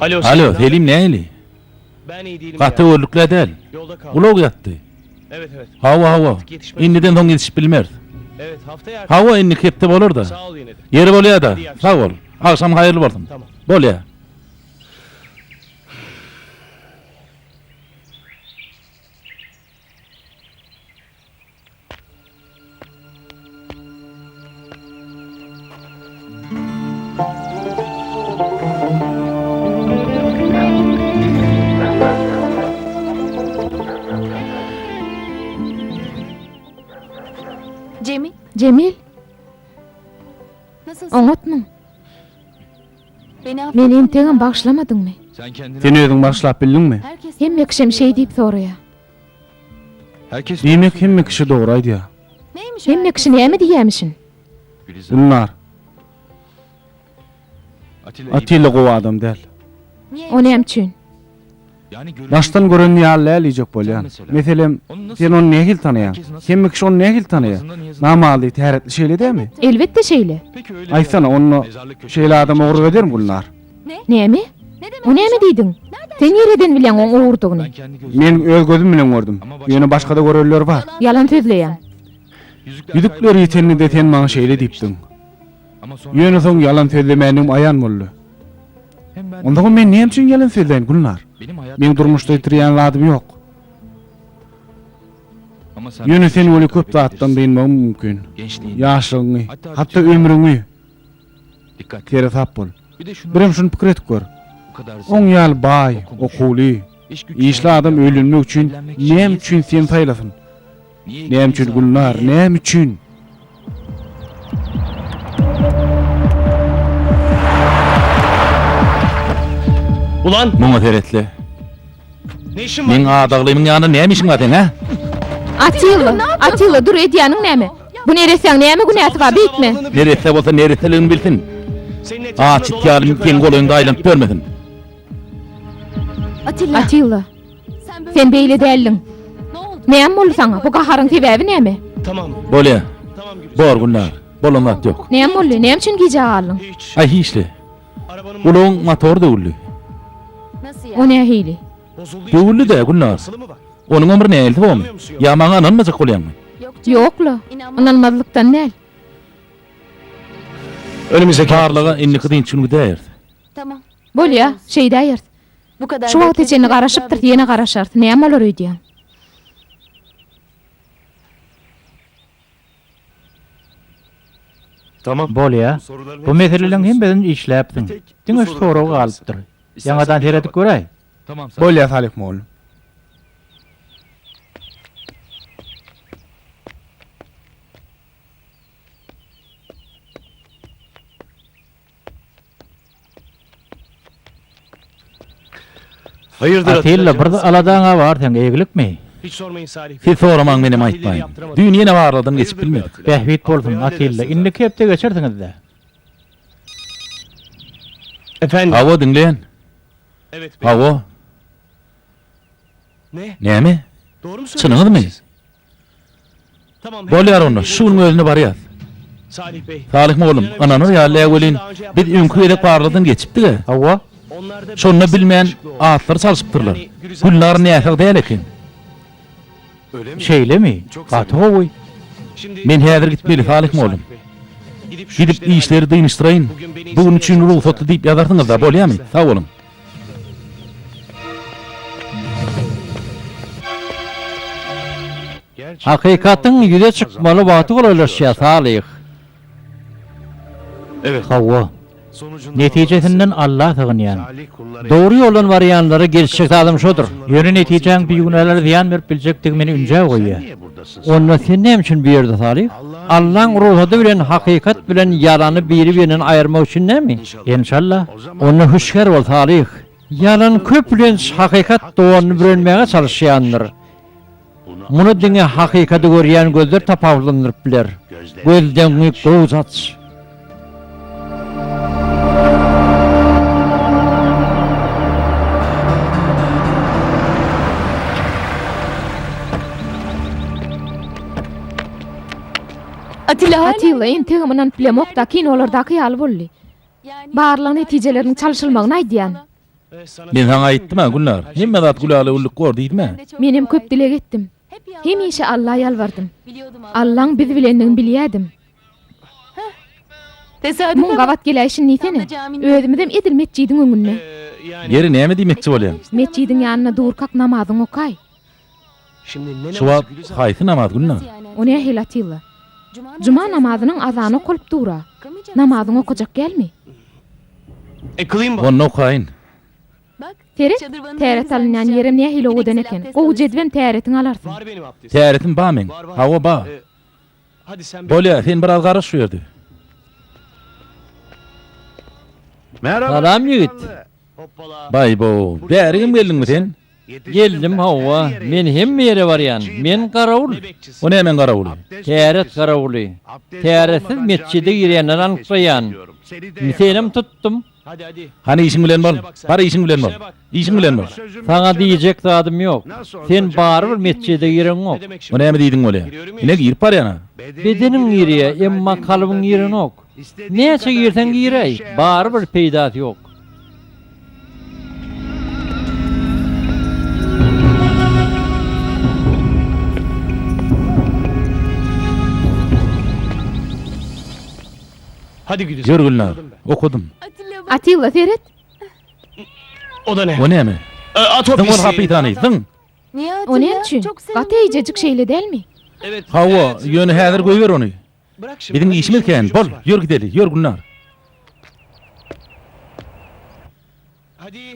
Alo, Selim nähili? Gaty öwürlikli-ä däl. Ulag ýatdy. Hawa, hawa. Indiden soň ýetişip bilmeris. Hawa, indiki hepde bolar-da. Ýeri bolýa-da. Sag bol. Agşam haýyrly bolsun. Bolýa. Jemil? Oňatmy? Men entegem bagşlamadyňmy? Sen özüň bagşlap bildiňmi? Hemme kişem şeý diýip soraýar. Diýmek hemme kişi dogry aýdýar. Hemme kişi näme diýýämişin? Gülnar. Atilla gowy adam däl. O näme üçin? Daşdan gören ýaly däl diýjek bolýan. Meselem, sen ony nähili tanaýaň? Hemme kişi ony nähili tanaýar? Namazly, täretli şeýle dämi? Elbetde şeýle. Aýtsana, onda şeýle adam ogurlyk edermi, Gülnar? Näme? Bu näme diýdiň? Sen nireden bilýäň oň ogurdygyny? Men öz gözüm bilen gördüm. Ýöne başga-da görenler bar. Ýalan sözleýäň. Ýüzükler ýiteninde sen maňa şeýle diýipdiň. Ýöne soň ýalan sözlemändigim aýan boldy. Onsoňam men näme üçin ýalan sözläýin, Gülnar? Meň durmuşda ýitirýän zadym ýok. Ýöne sen weli köp zatdan dynmagym mümkin. Ýaşlygyňy, hatda ömrüňi. Seresap bol. Birem şuny pikir edip gör. Oň ýaly baý, okuwly, işli adam öýlenmek üçin näme üçin seni saýlasyn? Näme üçin Gülnar? Näme üçin? Muňa seretli. Meň adaglymyň ýanynda näme işiň bar seň, hä? Atilla, Atilla, dur, edýäniň näme? Bu neressäň näme günäsi bar, beýtme! Neresse bolsa neresseligini bilsin. Aç it ýaly seň golaýyňda aýlanyp ýörmesin. Atilla, sen beýle däldiň. Näme boldy saňa? Bu gaharyň sebäbi näme? Bolýa. Bor, Gülnar. Bolan zat ýok. Näme boldy? Näme üçin gijä galdyň? Aý, hiç-le. Ulagyň motory döwüldi. O nähili? Döwüldi-dä, Gülnar. Onuňam bir näilsi bormy? Ýa maňa ynanmajak bolýaňmy? Ýok-la, ynanmazlykdan däl. Barlaga indiki dynç gün gidäýeris. Bolýa, şeýdäýeris. Şu wagta çenli garaşypdyrys, ýene garaşarys. Näme bolar öýdýäň? Bolýa, bu meseleleriň hemmesini işläpsiň. Diňe şu sorag galypdyr. Ýaňadan seredip göräý. Bolýa Salyh mugallym. Atilla bir aladaňa bar seň eglikmi? Siz soramaň menem aýtmaýyn. Düýn ýene barladan geçip bilmedik. Bähbit bolsun Atilla indiki hepde geçersiňizde. Hawa diňleýän. Hawa. Näme? Çynyňyzmy? Bolýar onda, şu günüň özünde barýas. Salyh mollum, ynanyr ýaly-ä welin, biz öňki gezek barlagdan geçipdik-ä. Hawa. Şonda bilmän atlary çalşypdyrlar. Gülnar näsag däl eken. Şeýlemi? Gaty gowy. Men häzir gitmeli, Salyh mollum. Gidip, işleri dynyşdyraýyn. Bu gün üçin rugsatly diýip ýazarsyňyz-da, bolýamy? Sag boluň. Hakykatyň ýüze çykmaly wagty golaýlaşýar, Salyh. Hawa. Netijesinden Alla sygynýan. Dogry ýoldan barýanlara gelişjek zadam şodur. Ýöne netijäň bigünälere zyýan berip biljekdigi meni ünjä goýýar. Onda sen näme üçin bu ýerde Salyh? Allaň rugsady bilen hakykat bilen ýalany biri-birinden aýyrmak üçin näme? Enşallah. Onda hüşgär bol Salyh. Ýalan köplenç hakykat donuny bürenmäge çalyşýandyr. Muny diňe hakykady görýän gözler tapawutlandyryp biler. Gözleňňi gowja aç. Atilla entegem ynanyp bilemok-da, kinolardaky ýaly boldy. Barlag netijeleriniň çalşylmagyny aýdýan. Men saňa aýtdym-a, Gülnar, hemme zat gülala güllük bor diýdim-ä. Menem köp dileg etdim. Hemişe Alla ýalbardym. Allaň bizi bilendigini bilýädim. Muň gabat geläýşin diýsene. Özümizem edil metjidiň öňünde. Geri näme diýmekçi bolýaň? Metjidiň ýanynda durkak namazyňy okaý. Şu wagt haýsy namaz günde? O nähili Atilla? Juma namazynyň azany okalyp dur-a. Namazyňy okajak dälmi? Onda okaýyn. Seret, täret alynýan ýerem nähili owadan eken. Gowy jedwem täretiňi alarsyň. Täretim ba meň. Hawa, ba. Bolýa, sen biraz garyş şu ýerde. Salam ýigit. Baý-bo, bäri hem geldiňmi sen? Geldim, hawa. Men hemme ýere barýan. Men garawul. Bu nämäň garawuly? Täret garawuly. Täretsiz metjide girýänleri anyklaýan. Indi senem tutdum. Hany işiň bilen bol! Bar işiň bilen bol! Işiň bilen bol! Saňa diýjek zadym ýok. Sen barybir metjede gireňok. O näme diýdiň bolýa? Ine girip barýan-a! Bedeniň girýä, emma kalbyň girenok. Näçe girseň giräý, barybir peýdasy ýok. Ýör Gülnar, okadym. Atilla, seret! O näme? Zyň ol hapisany, zyň! O näme üçin? Gaty eýjejik, şeýle dälmi? Hawa, ýöne häzir goýber ony. Biziň işimiz kän, bol, ýör gideli, ýör Gülnar.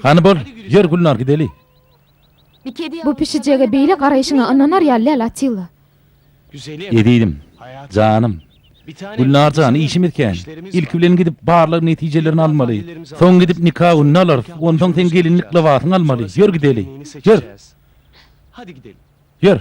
Hany bol, ýör Gülnar, gideli. Bu pişijege beýle garaýşyňa ynanar ýaly däl, Atilla. Ezizim, janym. Gülnar jan, işimiz kän. Ilki bilen gidip barlag netijelerini almaly. Soň gidip nika gününi alarys. Onsoň seň gelinlik lybasyňy almaly. Ýör gideli. Ýör. Ýör.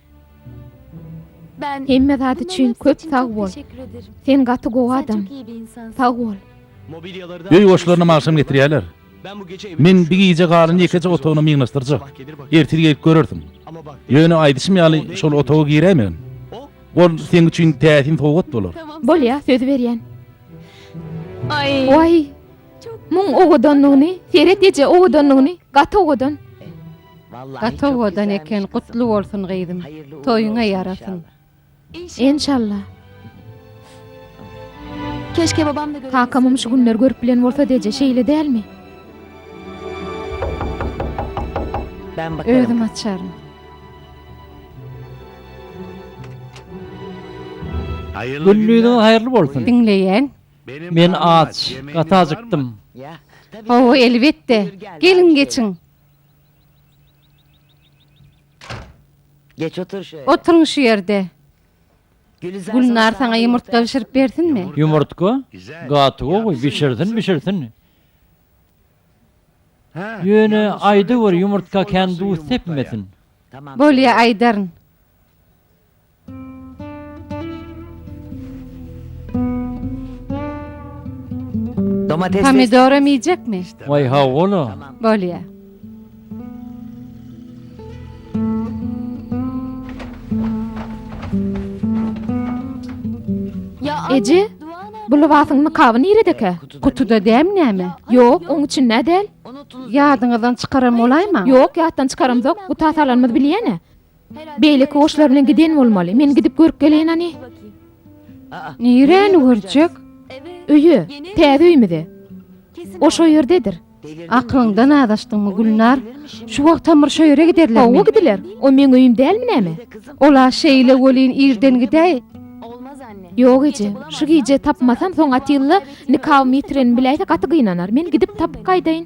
Hemme zat üçin köp sag bol. Sen gaty gowy adam. Sag bol. Öý goşlaryna agşam getirýärler. Men bi gije galan ýekeje otagyny myňlaşdyrjak. Ertir gelip görersiň. Ýöne aýdyşym ýaly şol otaga giräýmegin. Ol seň üçin täsin sowgat bolar. Bolýa, söz berýän. Waý! Muň owadanlygyny, Seret eje owadanlygyny, gaty owadan. Gaty owadan eken gutly bolsun gyzym toýuňa ýarasyn. Enşalla. Keşke babam da görüp Kakamam şu günler görüp bilen bolsady eje şeýle dälmi. Özüm açaryn. Günlüdiňiz haýyrly bolsun. Diňleýän. Men aç, gaty ajykdym. Hawa elbetde. Geliň geçiň. Geç otur şeýle. Oturyň şu ýerde. Gülnar saňa ýumurtga bişirip bersinmi? Ýumurtga? Gaty gowy, bişirsin, bişirsin. Ýöne, aýdaweri, ýumurtga kän duz sepmesin. Bolýa, aýdaryn. Pomidoram iýjekmi? Waý hawa-la. Bolýa. Eje, bu lybasyň nykaby niredekä? Kutuda dämi näme? Ýok, oň içinde-ä däl. Ýadyňyzdan çykaran bolaýmaň. Ýok, ýatdan çykaramzok. Guta salanymyz bilýän-ä. Beýleki goşlar bilen giden bolmaly. Men gidip görüp geleýin hany. Niräni görjek? Öýe, täze öýümize. O şo ýerdedir. Akylyňdan azaşdyňmy, Gülnar? Şu wagtam bir şo ýere giderlermi? Hawa, gidiler. O meň öýüm dälmi näme? Ol-a şeýle welin irden gidäý. Ýok, eje. Şu gije tapmasam, soň Atilla nikabymy ýitirenimi biläýse gaty gynanar. Men gidip tapyp gaýdaýyn.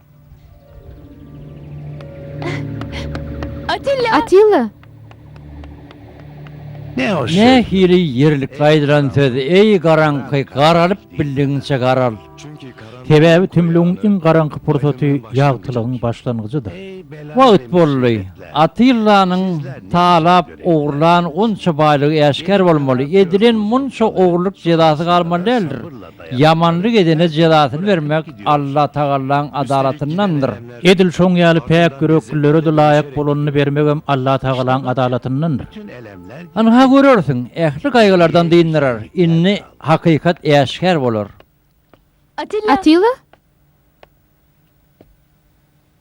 Atilla! Atilla! Nähili ýerlikli aýdylan söz, eý, garaňky, garalyp bildigiňçe garal! Sebäbi tümlügiň iň garaňky pursaty ýagtylygyň başlangyjydyr. Wagt boldy. Atillanyň talap ogurlan onça baýlygy äşgär bolmaly, edilen munça ogurlyk jezasy galmaly däldir. Ýamanlyk edene jezasyny bermek Alla Tagallaň adalatyndandyr. Edil şoň ýaly päk ýüreklilere-de laýyk bolanyny bermegem Alla Tagalaň adalatyndandyr. Ynha, görersiň, ähli gaýgylardan dyndyrar. Indi hakykat äşgär bolar. Atilla!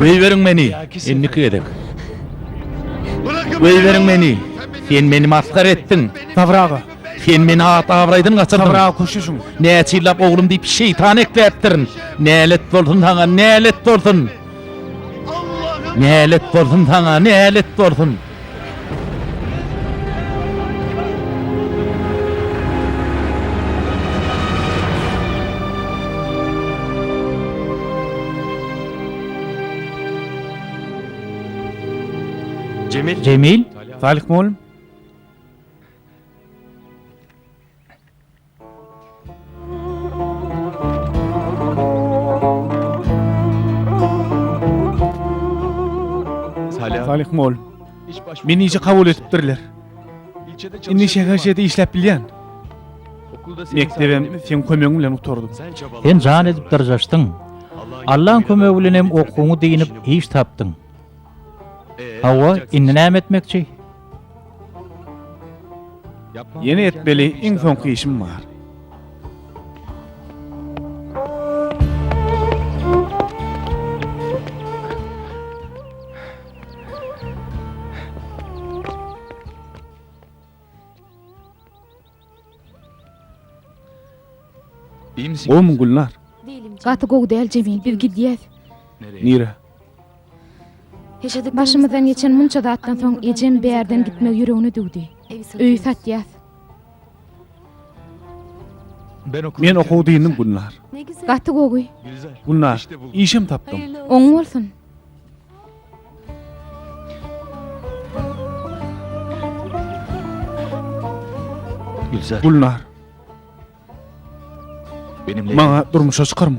Goýberiň meni, indiki gezek. Goýberiň meni. Sen meni masgara etdiň. Sabyr aga, sen meni at-abraýdan gaçyrdyň. Sabyr aga, köşeşiň. Näçe ýyllap oglum diýip, şeýtan ekläpdirin. Nälet bolsun saňa, nälet bolsun! Nälet bolsun saňa, nälet bolsun! Jemil, Salyh mugallym? Salyh mol. Meni işe kabul etipdirler. Indi şäherçede işläp bilýän. Mekdebem sen kömegiň bilen gutardym. Sen jan edip dyrjaşdyň. Allaň kömegi bilen hem okuwyňy diýinip iş tapdyň. Hawa, indi näme etmekçi? Ýene etmeli iň soňky işim bar. Gowmy Gülnar? Gaty gowy däl Jemil biz gidýäs. Nirä? Başymyzdan geçen munça zatdan soň ejem bärden gitmegi ýüregine düwdi. Öýi satýas. Men okuw dyndim Gülnar. Gaty gowy. Gülnar, işem tapdym. Oň bolsun. Gülzar. Gülnar. Benimle Maňa durmuşa çykarmy?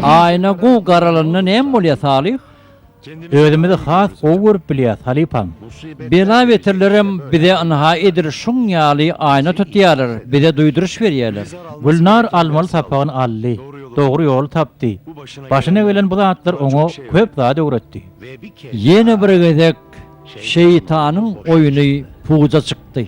Ayna gu garalanda näme bolýar Salih? Özümizi has gowy görüp bilýäs, halypam. Bela-beterlerem bize ynha edil şuň ýaly aýna tutýarlar, bize duýduryş berýärler. Gülnar almaly sapagyny aldy, dogry ýoly tapdy. Başyna gelen bu zatlar oňa köp zat öwretdi. Ýene bir gezek şeýtanyň oýny puja çykdy.